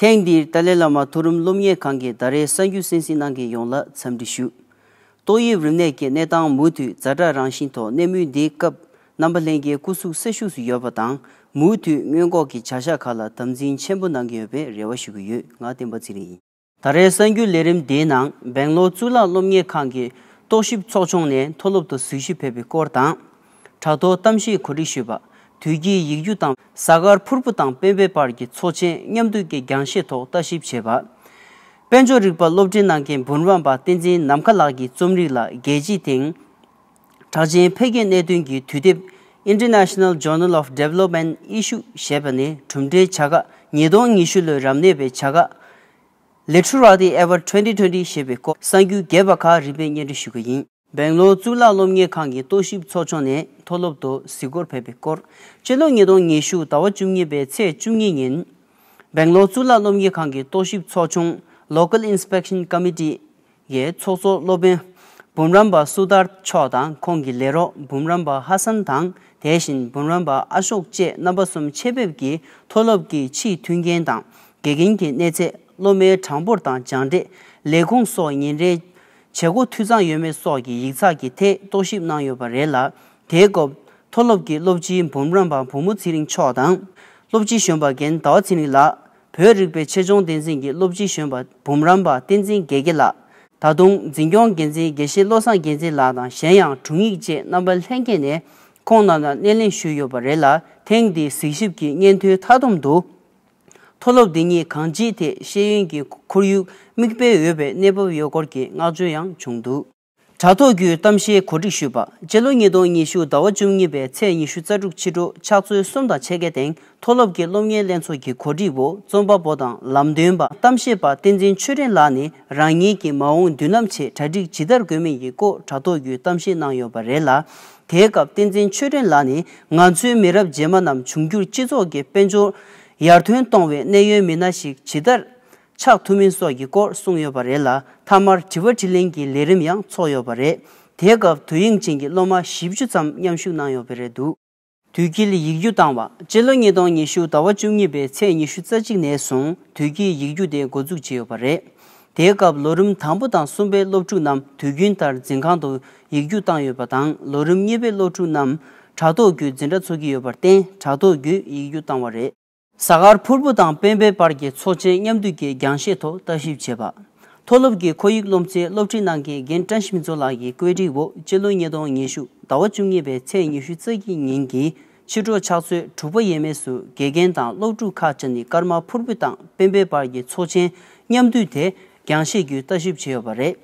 ཐེངས་འདིར་ཏཱ་ལའི་བླ་མ་མཐོ་རིམ་སློབ་གཉེར་ཁང་གི་ཟླ་རེའི་གསར་འགྱུར་གསན་གཟིགས་གནང་མཁན་ཡོངས་ལ་འཚམས་འདྲི་ཞུ། ཏོག་དབྱིབས་རིམས་ནད་ཀྱི་གནས་སྟངས་མུ་མཐུད་ཛར་དྲག་རང་བཞིན་ཐོག་གནས་མུས་འདིའི་སྐབས་རྣམ་པ་ལྷན་རྒྱས་སྐུ་གཟུགས་སེར་ཤུགས་སུ་ཡོད་པ་དང་མུ་མཐུད་སྔོན་འགོག་གི་བྱ་གཞག་ཁག་ལ་དམ་འཛིན་ཆེན་པོ་གནང་གི་ཡོད་པའི་རེ་བ་ཞུ་གི་ཡོད་ང་བསྟན་པ་ཚེ་རིང་ཡིན། ད་རེས་གསར་འགྱུར་ལས་རིམ་དེའི་ནང་སྦེང་ལོར་གཙུག་ལག་སློབ་གཉེར་ཁང་གི་རྟོག་ཞིབ་ཚོགས་ཆུང་ནས་མཐོ་སློབ་ཏུ་གཟིགས་ཞུ་ཕེབས་པའི་སྐོར་དང། དྲ་ཐོག་གཏམ་བཤད་གོ་སྒྲིག་ཞུས་པ། དུས་དཀྱིལ་ཡིག་རྒྱུགས་དང་གཟའ་སྐར་ཕུར་བུ་དང་སྤེན་པའི་བར་གྱི་ཚོགས་ཆེན་མཉམ་འདུས་ཀྱི་རྒྱང་ཤེལ་ཐོག་ལྟ་ཞིབ་བྱས་པ། དཔལ་འབྱོར་རིག་པ་སློབ་འབྲིང་ནང་གི་འབུམ་རམས་པ་བསྟན་འཛིན་ནམ་མཁའ་ལགས་ཀྱིས་རྩོམ་རིག་ལ་རྒྱལ་གཅེས་དེང་གྲགས་ཅན་འཕེལ་རྒྱས་གནད་དོན་གྱི་དུས་དེབ International Journal of Development Issues ཞེས་པ་ནས་གྲུབ་འབྲས་བྱ་དགའ་ཉིས་སྟོང་ཉི་ཤུ་ལོའི་རབ་གནས་པའི་བྱ་དགའ། Literati Award twenty twenty ཞེས་པའི་སྐོར་གསར་འགྱུར་རྒྱས་པ་ཁག་རིམ་པས་སྙན་སྒྲོན་ཞུ་གི་ཡིན། སྦེང་ལོར་གཙུག་ལག་སློབ་གཉེར་ཁང་གི་རྟོག་ཞིབ་ཚོགས་ཆུང་ནས་མཐོ་སློབ་ཏུ་གཟིགས་སྐོར་ཕེབས་པའི་སྐོར་སྤྱི་ལོ་ཉིས་སྟོང་ཉི་ཤུ་ཟླ་བ་བཅུ་གཉིས་པའི་ཚེས་བཅུ་གཉིས་ཉིན། སྦེང་ལོར་གཙུག་ལག་སློབ་གཉེར་ཁང་གི་རྟོག་ཞིབ་ཚོགས་ཆུང Local Inspection Committee ཡའི་ཚོགས་གཙོ་སློབ་དཔོན་འབུམ་རམས་པ་སུ་ཏར་མཆོག་དང་ཁོང་གི་ལས་རོགས་འབུམ་རམས་པ་ཧ་སན་དང་དེ་བཞིན་འབུམ་རམས་པ་ཨ་ཤོག་བཅས་རྣམ་པ་གསུམ་ཆེད་ཕེབས་ཀྱིས་མཐོ་སློབ་ཀྱི་ཕྱིའི་མཐུན་རྐྱེན་དང་དགེ་རྒན་གྱི་གནས་ཚད་སློབ་མའི་གྲངས་འབོར་དང་སྦྱངས་འབྲས་ལས་ཁུངས་སོགས་ཉིན་རེའི་བྱེད་སྒོ་འཐུས་ཚང་ཡོད་མེད་སོགས་ཀྱི་ཡིག་ཚགས་ཀྱི་ཐད་རྟོག་ཞིབ་གནང་ཡོད་པ་རེད་ལ་དེའི་སྐབས་མཐོ་སློབ་ཀྱི་སློབ་སྤྱི་འབུམ་རམས་པ་བུ་མོ་ཚེ་རིང་མཆོག་དང་སློབ་སྤྱི་གཞོན་པ་རྒན་ཟླ་བ་ཚེ་རིང་ལགས་བོད་རིག་པའི་ཆེད་སྦྱོང་བསྟན་འཛིན་གྱི་སློབ་སྤྱི་གཞོན་པ་འབུམ་རམས་པ་བསྟན་འཛིན་དགེ་དགེ་ལགས། ད་དུང་འཛིན་སྐྱོང་འགན་འཛིན་དགེ་བཤེས་བློ་བཟང་རྒྱལ་མཚན་ལགས་དང་གཞན་ཡང་དྲུང་ཡིག་བཅས་རྣམ་པ་ལྷན་རྒྱས་ནས་ཁོང་རྣམས་ལ་སྣེ་ལེན་ཞུས་ཡོད་པ་རེད་ལ་ཐེངས་འདིའི་གཟིགས་ཞིབ་ཀྱི་སྙན་ཐོའི་མཐའ་སྡོམ་དུ། མཐོ་སློབ་འདི་ཉིད་གང་ཅིའི་ཐད་ཤེས་ཡོན་གྱི་ཁོར་ཡུག་མིག་དཔེ་འོས་པའི་གནས་བབ་ཡོད་སྐོར་གྱི་བསྔགས་བརྗོད་ཡང་བྱུང་འདུག། དྲ་ཐོག་བརྒྱུད་གཏམ་བཤད་གོ་སྒྲིག་ཞུས་པ། སྤྱི་ལོ་ཉིས་སྟོང་ཉི་ཤུ་ཟླ་བ་བཅུ་གཉིས་པའི་ཚེས་ཉི་ཤུ་རྩ་དྲུག་ཕྱི་དྲོ་ཕྱག་ཚོད་གསུམ་དང་ཕྱེད་ཀའི་སྟེང་མཐོ་སློབ་ཀྱི་སློབ་གཉེར་ལྷན་ཚོགས་ཀྱི་གོ་སྒྲིག་འོག་རྩོམ་པ་པོ་དང་ལམ་སྟོན་པ་གཏམ་བཤད་པ་བསྟན་འཛིན་ཆོས་སྒྲོན་ལགས་ནས་རང་ཉིད་ཀྱི་མ་འོངས་མདུན་ལམ་ཆེད་གྲ་སྒྲིག་ཇི་ལྟར་དགོས་མིན་གྱི་སྐོར་དྲ་ཐོག་བརྒྱུད་གཏམ་བཤད་གནང་ཡོད་པ་རེད་ལ། དེའི་སྐབས་བསྟན་འཛིན་ཆོས་སྒྲོན་ལགས་ནས་ང་ཚོའི་མི་རབས་རྗེས་མ་རྣམས་འབྱུང་འགྱུར་སྤྱི་ཚོགས་ཀྱི་དཔལ་འབྱོར་ཡར་ཐོན་གཏོང་བའི་གནད་ཡོད་མི་སྣ་ཞིག་ཇི་ལྟར་ཆགས་ཐུབ་མིན་སོགས་ཀྱི་སྐོར་གསུངས་ཡོད་པ་རེད་ལ་མཐའ་མར་དྲི་བ་དྲི་ལན་གྱི་ལས་རིམ་ཡང་ཚོགས་ཡོད་པ་རེད། དེའི་སྐབས་དུས་ཡིག་མཆན་གྱི་སློབ་མ་བཞི་བཅུ་ཙམ་མཉམ་ཞུགས་གནང་ཡོད་པས་རེད་འདུག། དུས་དཀྱིལ་ཡིག་རྒྱུགས་བཏང་བ་སྤྱི་ལོ་ཉིས་སྟོང་ཉི་ཤུ་ཟླ་བ་བཅུ་གཉིས་པའི་ཚེས་ཉི་ཤུ་རྩ་གཅིག་ནས་བཟུང་དུས་དཀྱིལ་ཡིག་རྒྱུགས་དེ་འགོ་འཛུགས་བྱས་ཡོད་པ་རེད། དེའི་སྐབས་ལོ་རིམ་དང་པོ་དང་གསུམ་པའི་སློབ་ཕྲུག་རྣམས་དུས་རྒྱུན་ལྟར་འཛིན་ཁང་དུ་ཡིག་རྒྱུགས་བཏང་ཡོད་པ་དང་ལོ་རིམ་གཉིས་པའི་སློབ་ཕྲུག་རྣམས་དྲ་ཐོག་བརྒྱུད་འཛིན་གྲྭ་ཚུགས་ཀྱི་ཡོད་པར་བརྟེན་དྲ་ཐོག་བརྒྱུད་ཡིག་རྒྱུགས་བཏང་བ་རེད། གཟའ་སྐར་ཕུར་བུ་དང་སྤེན་པའི་བར་གྱི་ཚོགས་ཆེན་མཉམ་འདུས་ཀྱི་རྒྱང་བཞེས་ཐོག་བརྟག་ཞིབ་བྱས་པ། མཐོ་སློབ་ཀྱི་ཁོར་ཡུག་སློབ་ཚན་སློབ་ཁྲིད་གནང་མཁན་རྒན་བཀྲ་ཤིས་མཚོ་ལགས་ཀྱི་བཀོད་སྒྲིག་འོག་སྤྱི་ལོ་ཉིས་སྟོང་ཉི་ཤུ་ཟླ་བ་བཅུ་གཉིས་པའི་ཚེས་ཉི་ཤུ་རྩ་གཅིག་ཉིན་གྱི་ཕྱི་དྲོ་ཕྱག་ཚོད་དྲུག་པ་ཡས་མས་སུ་དགེ་རྒན་དང་སློབ་ཕྲུག་ཁག་བཅས་ནས་སྐར་མ་ཕུར་བུ་དང་སྤེན་པའི་བར་གྱི་ཚོགས་ཆེན་མཉམ་འདུས་དེ་རྒྱང་བཞེས་བརྒྱུད་བརྟག་ཞིབ་བྱས་ཡོད་པ་རེད།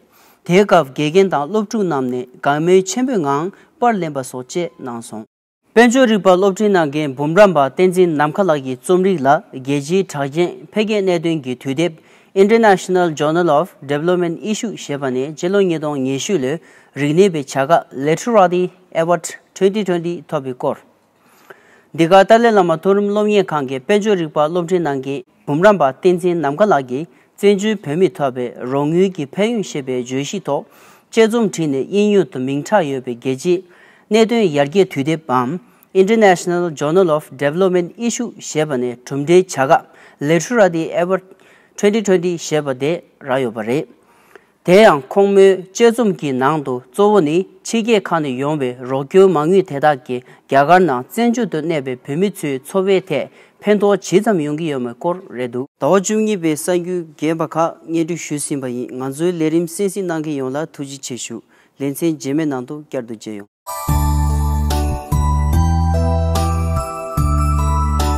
དེའི་སྐབས་དགེ་རྒན་དང་སློབ་ཕྲུག་རྣམས་ནས་དགའ་མོས་ཆེན་པོའི་ངང་པར་ལེན་པ་སོགས་བཅས་གནང་སོང། དཔལ་འབྱོར་རིག་པ་སློབ་འབྲིང་གནང་མཁན་འབུམ་རམས་པ་བསྟན་འཛིན་ནམ་མཁའ་ལགས་ཀྱི་རྩོམ་རིག་ལ་རྒྱལ་སྤྱིའི་གྲགས་ཅན་འཕེལ་རྒྱས་གནད་དོན་གྱི་དུས་དེབ International Journal of Development Issues ཞེས་པ་ནས་སྤྱི་ལོ་ཉིས་སྟོང་ཉེར་ཤུ་ལོའི་རིག་གནས་པའི་བྱ་དགའ Literati Award Twenty Twenty ཐོབ་པའི་སྐོར། འདི་ག་ཏཱ་ལའི་བླ་མ་མཐོ་རིམ་སློབ་གཉེར་ཁང་གི་དཔལ་འབྱོར་རིག་པ་སློབ་འབྲིང་གནང་མཁན། འབུམ་རམས་པ་བསྟན་འཛིན་ནམ་མཁའ་ལགས་ཀྱིས་བཙན་བྱོལ་བོད་མིས་འཐོབ་པའི་རོགས་དངུལ་གྱི་ཕན་ཡོན་ཞེས་པའི་བརྗོད་གཞི་ཐོག་དཔྱད་རྩོམ་བྲིས་ནས་དབྱིན་ཡུལ་དུ་མིང་གྲགས་ཡོད་པའི་རྒྱལ་སྤྱིའི་གནད་དོན་ཡར་རྒྱས་དུས་དེབ་བམ། International Journal of Development Issues། ཞེས་པ་ནས་གྲུབ་འབྲས་བྱ་དགའ། Literati Award། twenty twenty། ཞེས་པ་དེ་རག་ཡོད་པ་རེད། དེ་ཡང་ཁོང་མོའི་དཔྱད་རྩོམ་གྱི་ནང་དུ་གཙོ་བོ་ནི་ཕྱི་རྒྱལ་ཁག་ནས་ཡོང་བའི་རོགས་སྐྱོར་མ་དངུལ་དེ་དག་གིས་རྒྱ་གར་ནང་བཙན་བྱོལ་དུ་གནས་པའི་བོད་མི་ཚོའི་འཚོ་བའི་ཐད་ཕན་ཐོགས་ཇི་ཙམ་ཡོང་གི་ཡོད་མེད་སྐོར་རེད་འདུག། ཟླ་བ་བཅུ་གཉིས་པའི་གསར་འགྱུར་རྒན་པ་ཁག་སྙན་སྒྲོན་ཞུས་ཟིན་པ་ཡིན་ང་ཚོའི་ལས་རིམ་གསན་གཟིགས་གནང་མཁན་ཡོངས་ལ་ཐུགས་རྗེ་ཆེ་ཞུ་ལེ་མཚན་རྗེས་མའི་ནང་དུ་བསྐྱར་དུ་མཇལ་ཡོང།